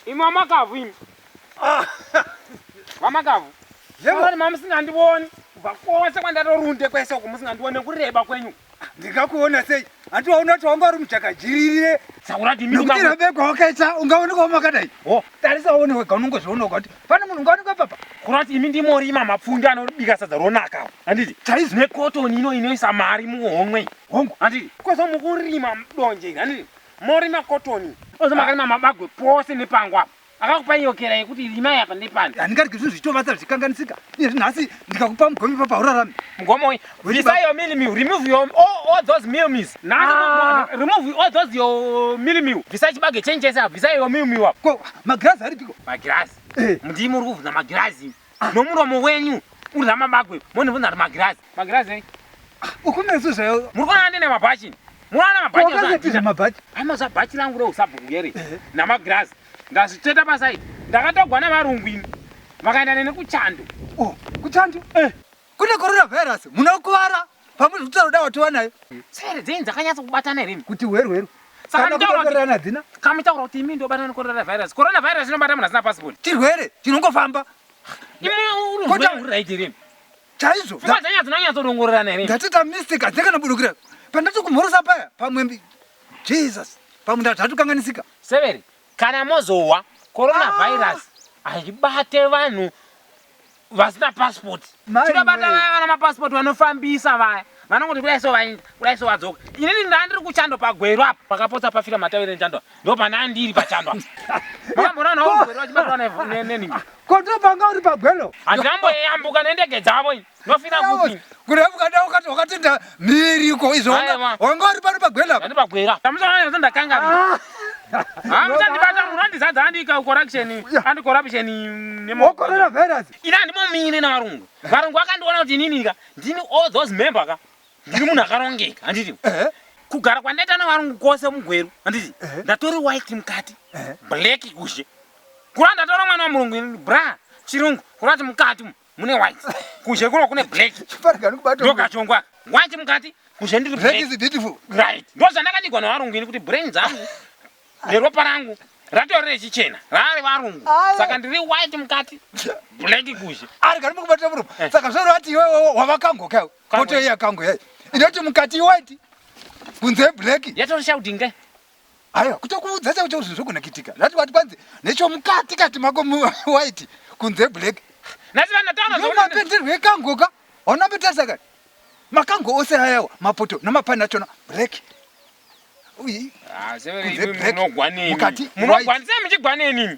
Imi wamakavhu imi. Ah. Wamakavhu. Yebo wani mamusingandioni. Kubva kwose kwandatorunde kwese uko musingandione kureba kwenyu. Ndingakuona sei? Hati waona kuti wanga uri muchakajiririre. Saurati mimi mama. Ndikira beko wakaita ungaone kwa makadai. Oh, tarisa uone wega unongozviona kuti pane munhu ungaone kwa papa. Kurati imi ndi mori mama pfunda anobika sadza ronaka. Anditi? Chaizi ne cotton ino inoisa mari muhomwe. Hongu, anditi? Kozo mukurima mdonje, anditi? Mori makotoni. Ozo makarima mabagwe pose nepango apa. Akakupa iyo kera yekuti rimai apa nepani. Handingarike zvinhu zvichitovata zvichikanganisika. Nezvi nhasi ndikakupa mugome papa haurarami. Mugome uyu. Bvisa your meal meal. Remove your all, all those meal meals. Na, ah. remove all those your meal meal. Bvisa chibage change chese apa. Bvisa your meal meal apa. Ko magirazi aripiko? Magirazi. Eh. Mudii muri kuvhuna magirazi. nomuromo wenyu uri ramabagwe monivunza kuti magirazi magirazi ei ukunesu zvayo muri kuona ndine mabhachi munoona mabhachiaazatiza mabhachi amaza bhachi langu reusabhuku yere namagirazi ndazvitsveta pasaidi ndakatogwa nevarungu ini vakaenda nene kuchando oh, kuchando eh. kune korona virus munokuvara Pamwe zvekutaura dawa tova nayo. Sere dzenyu dzakanyatsa kubatana here? Kuti hweru hweru. Saka mitaura kuti kamitaura kuti imi ndobatana necorona virus. Corona virus inobata munhu asina passport. Chirwere chinongofamba. Imi uri hweru hweru raiti here? Chaizvo. Pfungwa dzenyu dzinonyatsa kudongorerana here? Ndatita mistake hadzina kana budukira. Pandati kumhorosa paya pamwe Jesus. Pamwe ndazvatukanganisika. Severi kana mozowa corona ah. virus haibate vanhu vasina passport tinobata vaya vana mapassport vanofambisa vaya vanongoti kudai so vainda kudai so vadzoka inini ndandiri kuchando pagweru apa pakapotsa pafira matavire echando ndo pana ndiri pachando apa makamboona nawo mugweru vachibatwa nenini kotopanga uri pagwero handina mboyambuka nendege dzavo ndofira kupi Kureva ukada ukati wakatenda miriko izvo Haya, ma. wanga wanga uri pano pagwena apa. Ndati pagwera. Tamusaona kuti ndakangamira. Ah, muchandibata munhu andizadza andika corruption and corruption nemo. Wokorera virus. Ini handimomire navarungu. Varungu vakandiona kuti inini ka ndini all those member ka ndiri munhu akarongeka handiti. Eh. Kugara kwandaita navarungu kwose mugweru handiti. Eh. Ndatori white mukati Eh. black kushe. Kura ndatora mwana wamurungu ini bra chirungu kurati mukati umu. mune white kunze kuno kune black ndokachongwa white mukati kunze ndiri black is beautiful right ndozvandakanigwa navarungu ini kuti brain dzangu neropa rangu ratori rechichena raari varungu saka ndiri white mukati black kunze ari kari mukubata murume eh. saka zvaro ati iwe wavakango kayo koto iya kango yayi inoti mukati white kunze black yatori shouting kai Aiwa, kutokuudza chako chako zvinhu zvogona kuitika. Zvati wati kwanzi nechomukati kati mako white kunze black. Nasi vanhu vataona zvona. Mapenderwe ekangoka. Ona petarisa kani. Makango ose ayawa mapoto namapani achona black. Uyi. Ah, severe imi munogwanei. Mukati munogwanisa muchigwanei nini?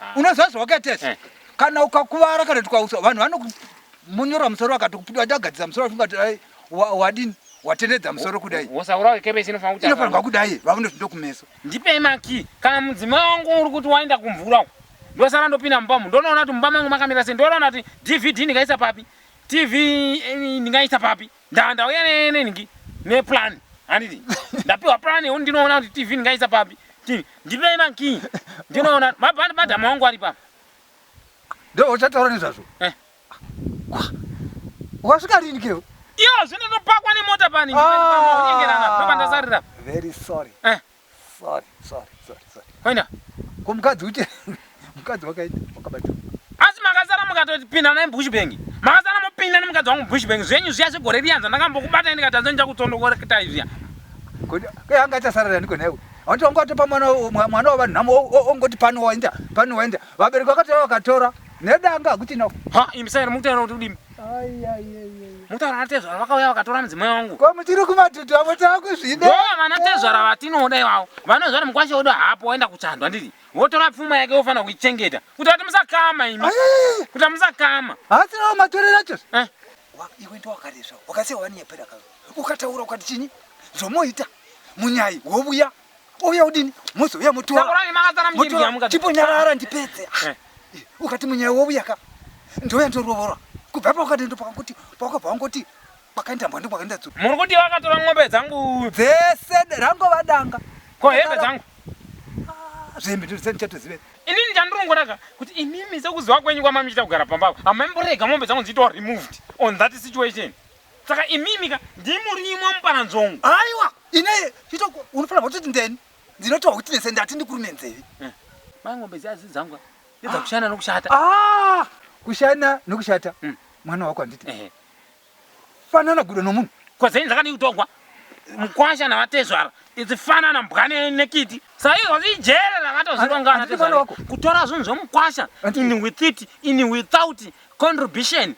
Ah. Unoziva zvawakaita izvi. Eh. Kana ukakuvara kana tikausa vanhu vanokumonyorwa musoro vakati kupiti waita kugadzisa musoro vafunga kuti ai wa- wadini watenedza musoro kudai. Wosaurawo kebesi inofanira kuti Inofanirwa apa- kudai vakunoti ndokumeso. ndipei makii kana mudzimai wangu uri kuti waenda kumvura uko ndosara ndopinda mumba umu ndonoona kuti mumba mangu makamira sei ndonoona kuti dvd ndingaisa papi tv eh, ndingaisa papi Nda ndauya ne ne niki ne plan. Anditi. Ndapiwa plan yoni ndinoona kuti TV ndingaisa papi. Ti ndipei ma key. Ndinoona ma band band amongo ari papi. Ndo uchataura nezvazvo. Eh. Wasvika rini keo? Iyo zvino ndopakwa nemota pani. Ah. Ndopandasarira. Very sorry. Eh. Sorry, sorry, sorry, sorry. Haina. Ko mukadzi uite mukadzi wakaita wakabata. Asi makazara mukatoti pinda naye bush bank. Makazara mupinda nemukadzi wangu bush bank. Zvenyu zviya zvegore riyanza ndakambokubata ini katadza nja kutsondokora kitai zviya. Ko ke anga aita sarara niko naye. Anti wangu atopa mwana mwana wavanhu namo ongoti pano waenda pano waenda. Vabereki vakatora vakatora. Nedanga kuti na. Ha, imsaira mutaira kuti udimi. Mutaura natezvara vakauya vakatora mudzimai wangu. Ko muchiri kumatutu avo takuzvida. Yo vana tezvara vatinoda ivavo. Vanonzi vari mukwashe wedu hapo waenda kuchandwa ndiri. Votora pfuma yake vofanira kuichengeta. Kuti ati musakama imi. Kuti musakama. Hasi nawo matore nacho. Eh. Iwe ndo wakaresva. Wakasiya wani yapera kazo. Ukataura ukati chini? Zvomoita. Munyai wobuya. Uye udini? Muzi uye mutora. Sakurai makazara mjimbi yamuka. Chipo nyarara ndipedze. Eh. Eh, ukati munyaya wouya ka. Ndoya ndorovora. Kubva pa ukati ndo pakuti pako pangoti pakaenda mbwa ndikwa kaenda tsuru. Muri kuti vakatora ngombe dzangu dzese rango vadanga. Ko hembe dzangu. Ah, zvembe ndiri senti chato zive. Inini chandurongoraka kuti imimi sekuziva kwenyu kwamamichita kugara pamba. Amemborega ngombe dzangu dzitwa removed on that situation. Saka imimi ka ndimurimo muparanzongo. Aiwa, ine chito unofanira kuti ndeni. Ndinoti witness ndati ndikurume nzeve. Eh. Mai ngombe dziya dzi dzangu. Ndidza ah. kushana nokushata. Ah! Kushana nokushata. Mm. Mwana wako anditi. Eh. Fanana gudo nomunhu. Kwa zeni dzakani kutongwa. Mkwasha na vatezvara. Idzi fanana mbwane nekiti. Sai wazi jere rakatozirongana ah, tezvara. Kutora zvinhu zvomukwasha. Ini with it, ini without contribution.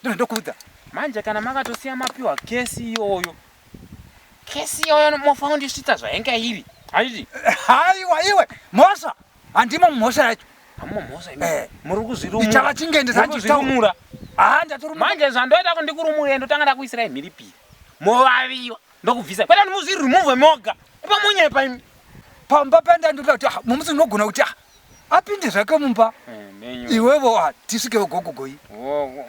Ndiri ndokuudza. Manje kana makatosiya mapiwa case iyoyo. Case iyoyo mofa kundisvitsa zvainga iri. Haidi. Haiwa iwe mhosva. Handimo mhosva yacho. Hammo mhosva imi. Eh. Muri kuzvirumura. Ndichava chingende zanje chitomura. Ah ndatorumura. Manje zvandoita kundikurumura ndotanga ndakuisirai mhiripiri. Movaviwa. ndokubvisa kwete muzvi remove moga pamonye paimi pamba panda ndoda kuti ah, mumusi unogona kuti ah, apinde zvake mumba eh, iwevo ah, tisvikewo gogogoyi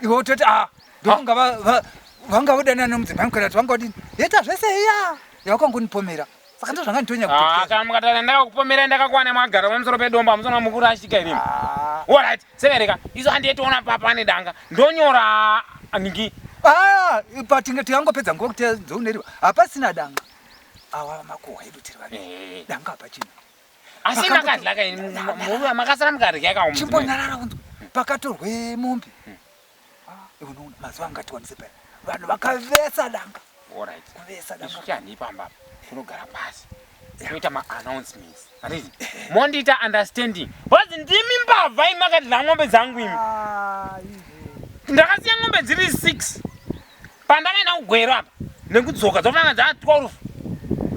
iwe utoti a ndokunga vanga vodanana nomudzimai mukana kuti vanga vodini yeta zvese iya yawakangonipomera saka ndo zvanga nditonya kutokana mukatana ndakakupomera ndakakwana mwagara pamusoro pedombo amusana mukuru ashika irimi orit Severeka, izo handiye tiona papa ane danga. Ndonyora aniki. Ah, ipa tinge tiyango pedza ngo kuti dzoneriwa. Apa sina danga. Awa makuwa edu tiri vani. Eh. Danga apa chini. Asi makadlaka ini, murume makasara mukadya ka umwe. Chimbo nyarara unzwe. Pakatorwe mombe. Hmm. Iwe unoona mazuva anga tiwanise paya. Vanhu vakavesa danga. All right. Kuvesa danga. Isu chani pamba. Kunogara pasi. Kuita ma announcements. Arizi. Mondita understanding. Wazi ndimi mbavha imakadla ngombe dzangu imi. Ah, ndakasiya ngombe dziri 6. pandave naugwero apa nekudzoka dzofana dzaa 12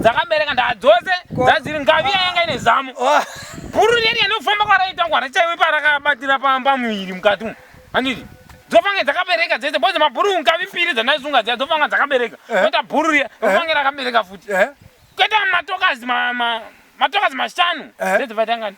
dzakabereka ndaa dzose dzadziri ngavi yayanga ine zamu bhuru reri yanofamba kwaraita ngwara chaiwe parakabatira pamba muviri mukati umu handiti dzofanga dzakabereka dzese bozi mabhuru ngavi mbiri dzandaisunga dziya dzofanga dzakabereka eh. oita bhuru riya eh. ofanga rakabereka futi eh. kwete matokazi matokazi mashanu dzedzovaitangani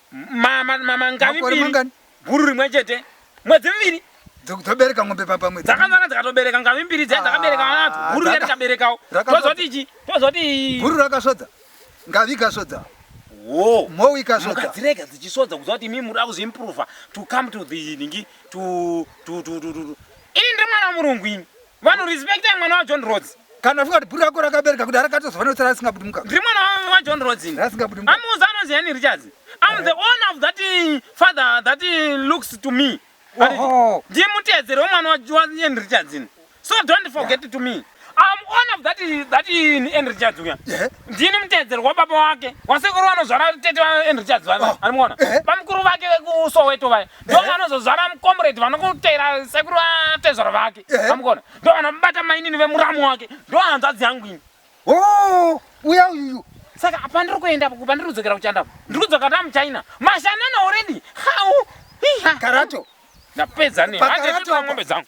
makore mangani guru rimwe chete mwedzi miviri dzobereka ngombe papamwe dzakazara dzikatobereka ngavi mbiri dzai dzakabereka vana vadzo guru riya rikaberekawo tozoti ichi tozoti guru rakasvodza ngavi ikasvodza wo mhowi ikasvodza dzirega dzichisvodza kuziva kuti imimi muda kuzoimprova to come to the ningi to to to to to ini ndiri mwana wamurungu ini Vanhu respectai mwana wa John Rhodes. Kana ufunga kuti bhuru rako rakabereka kudara katozova notsara risingabudi mukaka. Ndiri mwana wa, wa John Rhodes. ini. Rasingabudi mukaka. Amuudza anonzi Henry Richards. I'm the owner of that eh, father that eh, looks to me. Ati, Oho. Ndiye mutedzeri wemwana wa wa Henry Richards. ini. So don't forget to me. I'm owner of that eh, that eh, Henry Richards uya. Yeah. Ndini mutedzeri wababa wake. Wasekuru vanozvara tete wa Henry Richards vaya. Oh. Ari muona? Eh. Bamukuru vake vekuSoweto vaya. ndo vanozozvara mucomrade vanokuteera sekuru vatezvara vake amukona ndo vanobata mainini vemuramu wake ndo hanzvadzi yangu ini oh, uya uyuyu saka apa ndiri kuenda kuba ndiri kudzokera kuchanda ndiri kudzoka ta muchina mashanana already how karato ndapedza ne handieombe dzangu